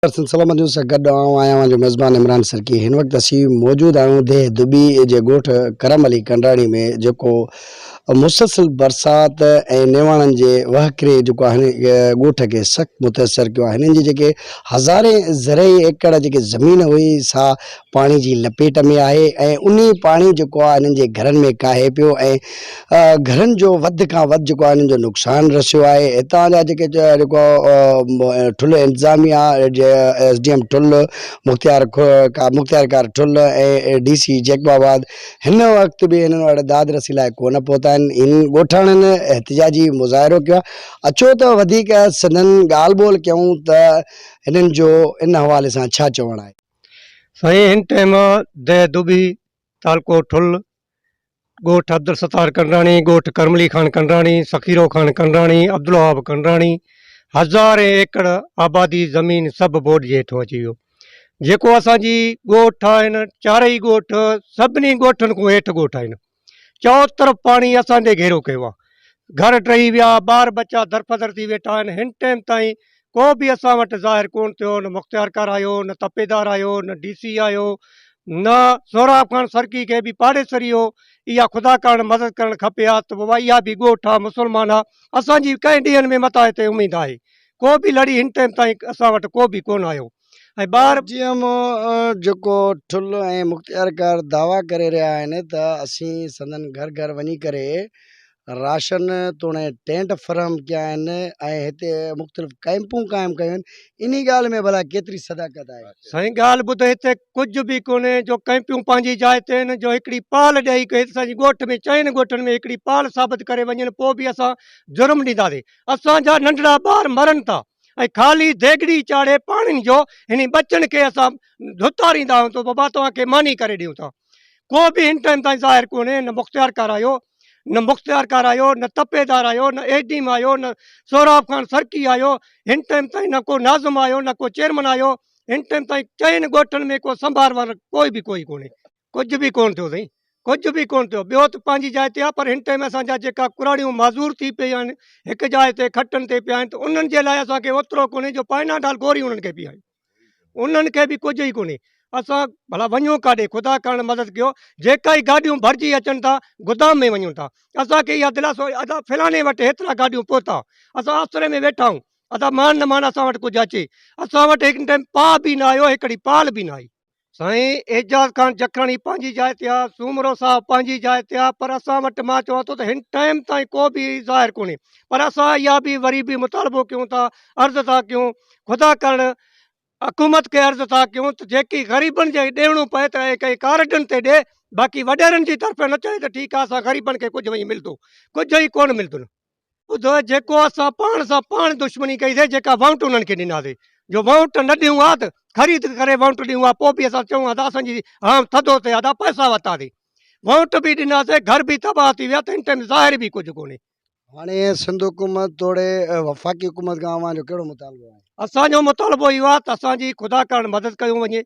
Person سلامتيون سان گڏ آئون آهيان اوهان جو ميزبان عمران سرڪي هن وقت اسين موجود آهيون ديهه دٻي جي ڳوٺ ڪرم علي ڪنڊراڻي ۾ جيڪو مسلسل برسات ۽ نيواڻن جي وهڪري جيڪو هن ڳوٺ کي سخت متاثر ڪيو آهي هنن جي جيڪي هزارين زرعي ايڪڙ جيڪي زمين هئي سا پاڻي جي لپيٽ ۾ آهي ۽ انهي پاڻي جيڪو آهي هنن جي گهرن ۾ ڪاهي پيو ۽ گهرن جو وڌ کان وڌ جيڪو آهي هنن جو نقصان رسيو آهي هتان جا جيڪي جيڪو ٺل انتظاميا ايس ڊي ايم ٺل مختيار مختيار ڪار Thul ۽ D C Jacobabad هن وقت به هنن وٽ داد رسي لاء ڪونه پهتا آهن هن ڳوٺاڻن احتجاجي مظاهرو ڪيو آهي اچو ته وڌيڪ سندن ڳالهه ٻولهه ڪيون ته هنن جو ان حوالي سان ڇا چوڻ آهي. سائين هن ٽئيم دهه دٻي، تعلقو ٺل، ڳوٺ عبدالستار ڪنڊراڻي، ڳوٺ ڪرملي خان ڪنڊراڻي، سخيرو خان ڪنڊراڻي، عبدالوهاب ڪنڊراڻي، هزارين ايڪڙ آبادي زمين سڀ ٻوڏ جي هيٺون اچي ويو. جيڪو اسان جي ڳوٺ آهن چارئي ڳوٺ سڀني ڳوٺن کان هيٺ ڳوٺ آهن. چئو طرف پاڻي اسان تي گهيرو ڪيو آهي. گهر ٽهي ويا، ٻار ٻچا درپدر ٿي ويٺا آهن، هن ٽيم تائين ڪو به اسان وٽ ظاهر ڪونه ٿيو، نه مختيارڪار آيو، نه تپيدار آيو، نه ڊي سي آيو، نه سهراب خان سرڪي کي به پاڙيسري هو، اها خدا ڪارڻ مدد ڪرڻ کپي ها ته بابا اها به ڳوٺ آ، مسلمان آ، اسان جي ڪئين ڏينهن ۾ متان هتي اميد آهي، ڪو به لڙي هن ٽيم تائين اسان وٽ ڪو به ڪونه آيو. ۽ ٻار جي ايم او جيڪو ٺل ۽ مختيارڪار دعويٰ ڪري رهيا آهن ته اسين سندن گهر گهر وڃي ڪري راشن توڻي ٽينٽ فراهم ڪيا آهن ۽ هتي مختلف ڪئمپون قائم ڪيون آهن انهي ڳالهه ۾ ڀلا ڪيتري صداقت آهي؟ سائين ڳالهه ٻڌ هتي ڪجهه به ڪونهي جو ڪئمپيون پنهنجي جاء تي آهن جو هڪڙي پال ڏيئي ڪري اسان جي ڳوٺ ۾ چئن ڳوٺن ۾ هڪڙي پال ثابت ڪري وڃن پوء به اسان جرم ڏينداسين اسان جا ننڍڙا ٻار مرن ٿا ۽ خالي ديڳڙي چاڙهي پاڻين جو هني ٻچن کي اسان ڌتاريندا آهيون ته بابا توهان کي ماني ڪري ڏيون ٿا ڪو به هن ٽائيم تائين ظاهر ڪونهي نه مختيار ڪار آيو نه مختيار ڪار آيو نه تپيدار آيو نه اي ڊيم آيو نه سهراب خان سرڪي آيو هن ٽائيم تائين نه ڪو ناظم آيو نه ڪو چيئرمن آيو هن ٽائيم تائين چئن ڳوٺن ۾ ڪو سنڀار وار ڪوئي به ڪوئي ڪونهي ڪجهه به ڪونه ٿيو سائين ڪجهه به ڪونه ٿيو ٻيو ته پنهنجي جاء تي آ پر هن ٽائيم اسان جا جيڪا ڪراڙيون معذور ٿي پيا آهن هڪ جاء تي کٽن تي پيا آهن ته انهن جي لاء اسان کي اوترو ڪونهي جو پائناڊال گوري انهن کي پياريون انهن کي به ڪجهه ئي ڪونهي اسان ڀلا وڃون ڪاڏي خدا ڪرڻ مدد ڪيو جيڪا ئي گاڏيون ڀرجي اچن ٿا گدام ۾ وڃون ٿا اسان کي اها دلاسو ادا فلاڻي وٽ هيترا گاڏيون پهتا اسان آسري ۾ ويٺا آهيون ادا مان نه مان اسان وٽ ڪجهه اچي اسان وٽ هڪ ٽائيم پاء به نه آيو هڪڙي پال به نه آئي سائين اعجاز خان جکاڻي پنهنجي جاء تي آ سومرو صاحب پنهنجي جاء تي آ پر اسان وٽ مان چوان ٿو ته هن ٽائم تائين ڪو به ظاهر ڪونهي پر اسان اها به وري به مطالبو ڪيون ٿا عرض ٿا ڪيون خدا ڪرڻ حڪومت کي عرض ٿا ڪيون ته جيڪي غريبن جي ڏيڻو پئي ته اهي ڪئي ڪارڊن تي ڏي باقي وڏيرن جي طرفين نه چئي ته ٺيڪ آ اسان غريبن کي ڪجهه وڃي ملندو ڪجهه ئي ڪون ملندو ٻڌو جيڪو اسان پاڻ سان پاڻ دشمني ڪئي سي جيڪا وونٽ انهن کي ڏنا سي جو وونٽ نه ڏيون ها ته خريد ڪري وونٽ ڏيون ها پوء به اسان چون ها ته اسان جي هام ٿڌو سي ادا پئسا وتا سي وونٽ به ڏنا سي گهر به تباهه ٿي ويا ته ان ٽائم ظاهر به ڪجهه ڪونهي هاڻي سنڌ حڪومت توڙي وفاقي حڪومت کان اوهان جو ڪهڙو مطالبو آهي اسان جو مطالبو اهو آهي ته اسان جي خدا ڪرڻ مدد ڪيون وڃي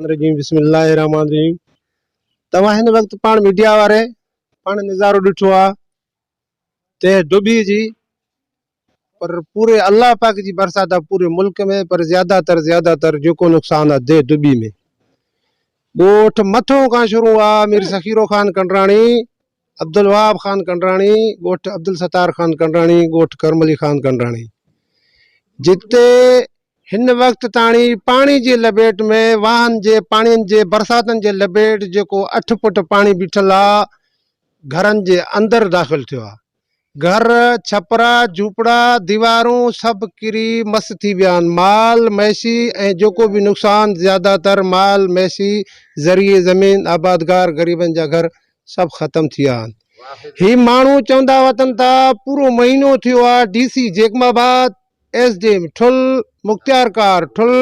الرجيم بسم الله الرحمٰن الرحيم توهان هن وقت پاڻ ميڊيا واري پاڻ نظارو ڏٺو آ ته ڊوڀي جي پر پوري الله پاڪ جي برسات آ پوري ملڪ ۾ پر زياده تر زياده تر جيڪو نقصان آ دي ڊوڀي ۾ ڳوٺ مٿو کان شروع آ مير سخيرو خان ڪنڊراڻي عبدالوهاب خان ڪنڊراڻي ڳوٺ عبدالستار خان ڪنڊراڻي ڳوٺ ڪرم علي خان ڪنڊراڻي جتي هن وقت تاڻي پاڻي جي لپيٽ ۾ واهن جي پاڻين جي برساتن جي لپيٽ جيڪو اٺ فٽ پاڻي بيٺل آ گهرن جي اندر داخل ٿيو آ گهر، ڇپرا، جهوپڙا، ديوارون سڀ ڪري مس ٿي ويا آهن. مال ميسي ۽ جيڪو به نقصان زياده تر مال ميسي ذريعي زمين، آبادگار، غريبن جا گهر سڀ ختم ٿي ويا آهن. هي ماڻهو چوندا وتن ته پورو مهينو ٿيو آهي D C Jacobabad, S D M Thul, مختيارڪار ٺل،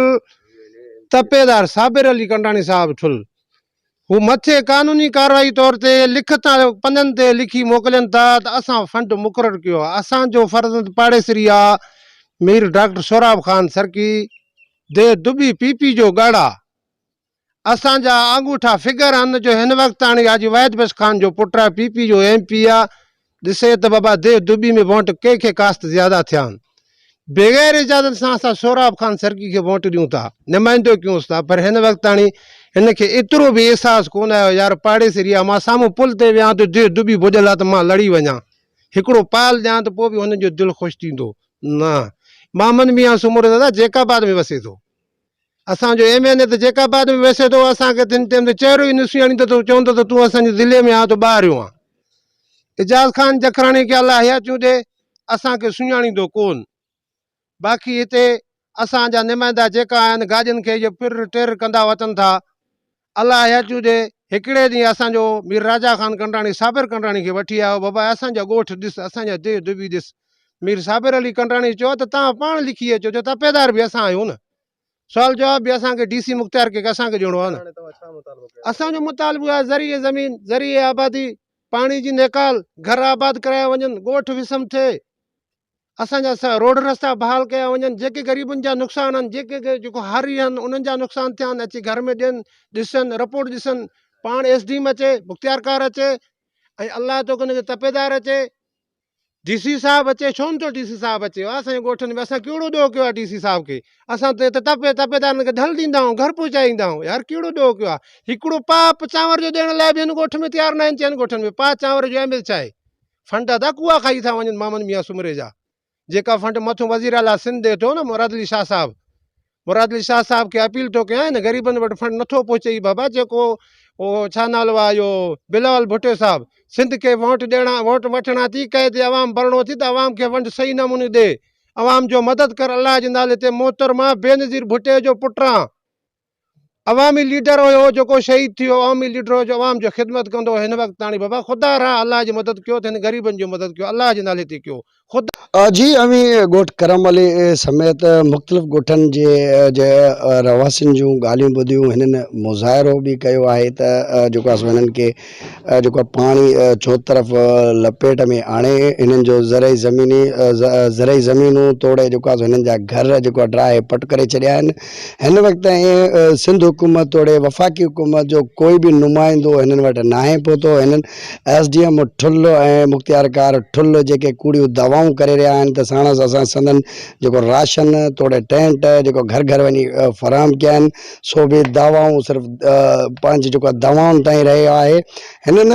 تپيدار صابر علي ڪنڊاڻي صاحب ٺل، هو مٿي قانوني ڪارروائي طور تي لکت ۽ پنن تي لکي موڪلين ٿا ته اسان فنڊ مقرر ڪيو آهي، اسان جو فرزند پاڙيسري آ مير ڊاڪٽر سهراب خان سرڪي دي دٻي پي پي جو ڳڙ آ، اسان جا آڱوٺا فگر آهن جو هن وقت تاڻي حاجي واحد بخش خان جو پٽ آ پي پي جو ايم پي آ، ڏسين ته بابا ديھ دٻي ۾ وونٽ ڪنهن کي ڪاست زياده ٿيا آھن. بغير اجازت سان اسان سهراب خان سرڪي کي وونٽ ڏيون ٿا، نمائندو ڪيونس ٿا پر هن وقتاڻي هن کي ايترو به احساس ڪونه آيو يار پاڙيسري آ مان سامهون پل تي ويهان ته ديھ دٻي ڀڄل آ ته مان لڙي وڃان هڪڙو پال ڏيان ته پوء به هنن جو دل خوش ٿيندو نه محمد ميان سومرو دادا جيڪب آباد ۾ وسي ٿو. اسان جو ايم اين اي ته جيڪب آباد ۾ ويسي ٿو، اسان کي تنهن ٽيم تي چهرو ئي نه سڃاڻيندو ته چوندو ته تون اسان جي ضلعي ۾ آهين تو ٻاهريون آهين. اعجاز خان جکراڻي کي الله حياتيون ڏي، اسان کي سڃاڻيندو ڪون. باقي هتي اسان جا نمائندا جيڪا آهن گاڏين کي اهي ڦر ٽر ڪندا اچن ٿا. الله حيات ڏي، هڪڙي ڏينهن اسان جو مير راجا خان ڪنڊراڻي صابر ڪنڊراڻي کي وٺي آيو، بابا اسان جا ڳوٺ ڏس، اسان جا ديھ دٻي ڏس. مير صابر علي ڪنڊراڻي چيو ته تان پاڻ لکي اچو جو تپيدار به اسان آهيون نه. سوال جواب به اسان کي ڊي سي مختيار ڪي کي اسان کي ڏيڻو آهي نه. اسان جو مطالبو آهي زرعي زمين، زرعي آبادي، پاڻي جي نيڪال، گهر آباد ڪرايا وڃن، ڳوٺ وسم ٿئي. اسان جا سا روڊ رستا بحال ڪيا وڃن جيڪي غريبن جا نقصان آهن جيڪي جيڪو هاري آهن انهن جا نقصان ٿيا آهن اچي گهر ۾ ڏين ڏسن رپورٽ ڏسن پاڻ ايس ڊي ايم اچي مختيارڪار اچي ۽ الله تو ان کي تپيدار اچي ڊي سي صاحب اچي ڇو نٿو ڊي سي صاحب اچي ها سائين ڳوٺن ۾ اسان ڪهڙو ڏوهه ڪيو ڊي سي صاحب کي اسان ته تپي تپيدارن کي ڍل ڏيندا آهيون گهر پهچائيندا آهيون يار ڪهڙو ڏوهه ڪيو آهي هڪڙو پاپ چانور جو ڏيڻ لاء بي هن ڳوٺ ۾ تيار نه آهن چئن ڳوٺن ۾ پاء چانور جو اهميت ڇا فنڊ ادا ڪوئا کائي ٿا وڃن مامن ميان سومري جا جيڪا فنڊ مٿو وزير اعلٰي سنڌ ڏي ٿو ن مراد علي شاهه صاحب مراد علي شاهه صاحب کي اپيل ٿو ڪيان هن غريبن وٽ فنڊ نٿو پهچي هي بابا جيڪو او ڇا نالو آ اهو بلاول ڀٽو صاحب سنڌ کي ووٽ ڏيڻا ووٽ وٺڻا ٿي ڪئي تي عوام ڀرڻو ٿي ته عوام کي فنڊ صحيح نموني ڏي عوام جو مدد ڪر الله جي نالي تي محترمه بينظير ڀٽي جو پٽان عوامي ليڊر هيو جيڪو شهيد ٿيو عوامي ليڊر هيو جو عوام جو خدمت ڪندو هو هن وقت تاڻي بابا خدا راه الله جي مدد ڪيو ته هن غريبن جي مدد ڪيو الله جي نالي تي ڪيو خدا جي اوهين ڳوٺ ڪرم علي سميت مختلف ڳوٺن جي جي رهواسين جون ڳالهيون ٻڌيون هنن مظاهرو به ڪيو آهي ته جيڪو اسان هنن کي جيڪو آهي پاڻي چوطرف لپيٽ ۾ آڻي هنن جو زرعي زميني زرعي زمينون توڙي جيڪو آهي هنن جا گهر جيڪو آهي ڊراهي پٽ ڪري ڇڏيا آهن هن وقت تائين سنڌ حڪومت توڙي وفاقي حڪومت جو ڪوئي به نمائندو هنن وٽ ناهي پهتو هنن ايس ڊي ايم ٺل ۽ مختيارڪار ٺل جيڪي ڪوڙيون دعوائون ڪري رهيا آهن ته ساڻس اسان سندن جيڪو راشن توڙي ٽينٽ جيڪو گهر گهر وڃي فراهم ڪيا آهن سو به دعوائون صرف پنهنجي جيڪو آهي دعوائن تائين رهيو آهي هنن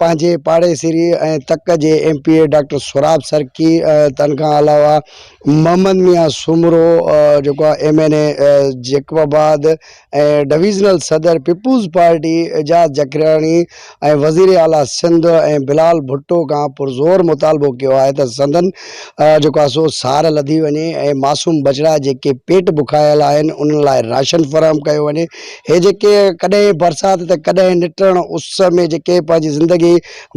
پنهنجي پاڙيسري ۽ تڪ جي M P A doctor Sohrab Sarki تن کان علاوه محمد ميان سومرو جيڪو آهي M N A Jacobabad ۽ divisional صدر پيپلز پارٽي اعجاز جکراڻي ۽ وزير اعليٰ سنڌ ۽ بلال ڀٽو کان پرزور مطالبو ڪيو آهي ته سندن جيڪو آهي سو سار لڌي وڃي ۽ معصوم ٻچڙا جيڪي پيٽ بکايل آهن انهن لاء راشن فراهم ڪيو وڃي هي جيڪي ڪڏهن برسات ته ڪڏهن نٽرڻ اس ۾ جيڪي پنهنجي زندگي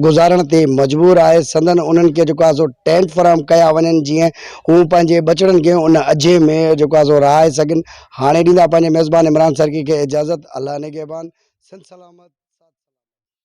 گذارڻ تي مجبور آهي سندن انهن کي جيڪو آهي سو ٽينٽ فراهم ڪيا وڃن جيئن هو پنهنجي ٻچڙن کي ان اجهي ۾ جيڪو آهي سو رهائي سگهن هاڻي ڏيندا پنهنجي ميزبان عمران سرڪي کي اجازت الله نگهبان سنڌ سلامت.